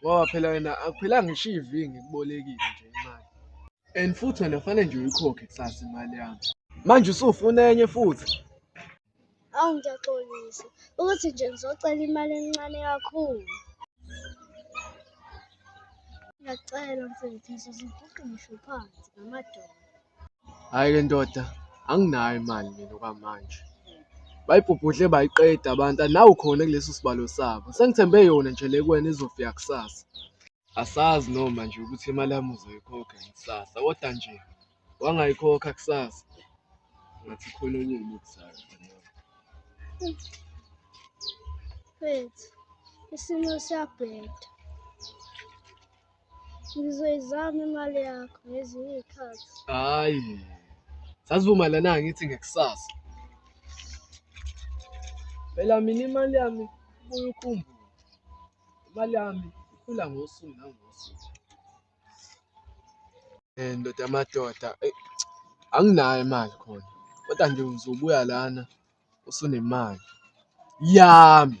ngoba phela wena akuphilanga ngisho ivi ngikubolekile nje imali and futhi wena fanele nje uyikhokhe kusasa imali yami manje usufuna enye futhi Awu ngiyaxolisa ukuthi nje ngizocela imali encane kakhulu. Ngiyacela mfethu ngizozibhuqisha phansi ngamadolo. Hhayi le ndoda anginayo imali mina okwamanje. Bayibhubhudle bayiqeda abantu and nawu khona kuleso sibalo sabo. Sengithembe yona nje le kuwena izofika kusasa. Asazi noma nje ukuthi imali yami uzoyikhokha yini kusasa kodwa nje wangayikhokha kusasa ngathi khona enye engikuzayo mfana wami. Mfethu, isimo siyabheda. Ngizoyizama imali yakho ngezinye iy'khathi. Hhayi, sasivumelana ngithi ngekusasa. Phela mina imali yami ibuye ukhumbule. Imali yami ikhula ngosuku nangosuku. Eh, ndoda yamadoda, eyi, anginayo imali khona. Kodwa nje uzobuya lana usunemali yami.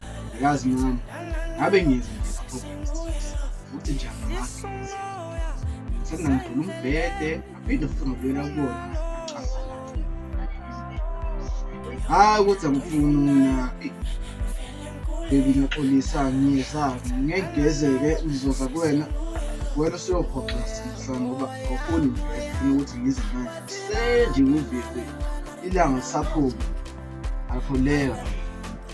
Yazi mama, ngabe ngizwe futhi nje angamazi. Sengangiphula umbhede, aphinde futhi ngibuyela kubona. Hayi ukuthi angifuni mina. Baby ngiyaxolisa ngiyezami ngegezeke ngizoza kuwena wena usuyophoxisa mhla ngoba awufuni ngifuna ukuthi ngize manje senje ngivile ilanga lisaphuma akhuleka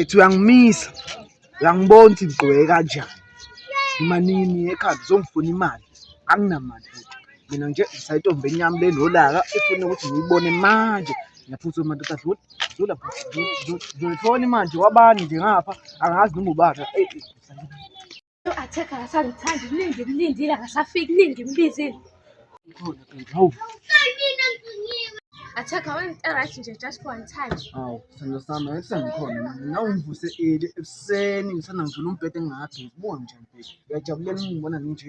ethi uyangimisa uyangibona ukuthi ngigqoke kanjani manini ekhaya ngizongifuna imali anginamali futhi mina nje ngisayitombi enyami le nolaka ifuna ukuthi ngiyibone manje ngiyaphutha madoda dlula dlula ngiyifona imanje wabani nje ngapha angazi noma ubani Athekha akasangithandi kuningi kulindile akasafiki kuningi kulizile. Ukhona kanti hawu. Athekha wenzita right nje just for one time. Hawu, sithando sami akusangikhona manje. Nawe ngivuse eli ekuseni ngisana ngivula umbhede ngingakabheki. Buka nje mfethu. Ngiyajabulela ukungibona nginje.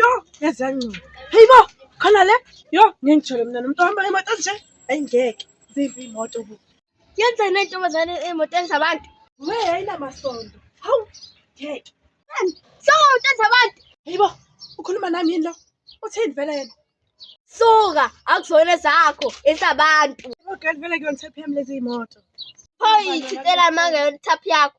Yo, yaze yangcola. Hey bo, khona le. Yo, ngengijole mina nomuntu ohamba imoto nje. Hayi ngeke. Zimbi imoto bu. Yenza into ntombazane emotweni zabantu. We ayinamasondo. Hawu, ngeke. So, emotweni zabantu. Hey bo, ukhuluma nami yini lo? Uthini vele yena? Suka, akuzona zakho, ezabantu. Okay, vele kuyona thaphi yami lezi imoto. Phoyi, thintela amanga yona thaphi yakho.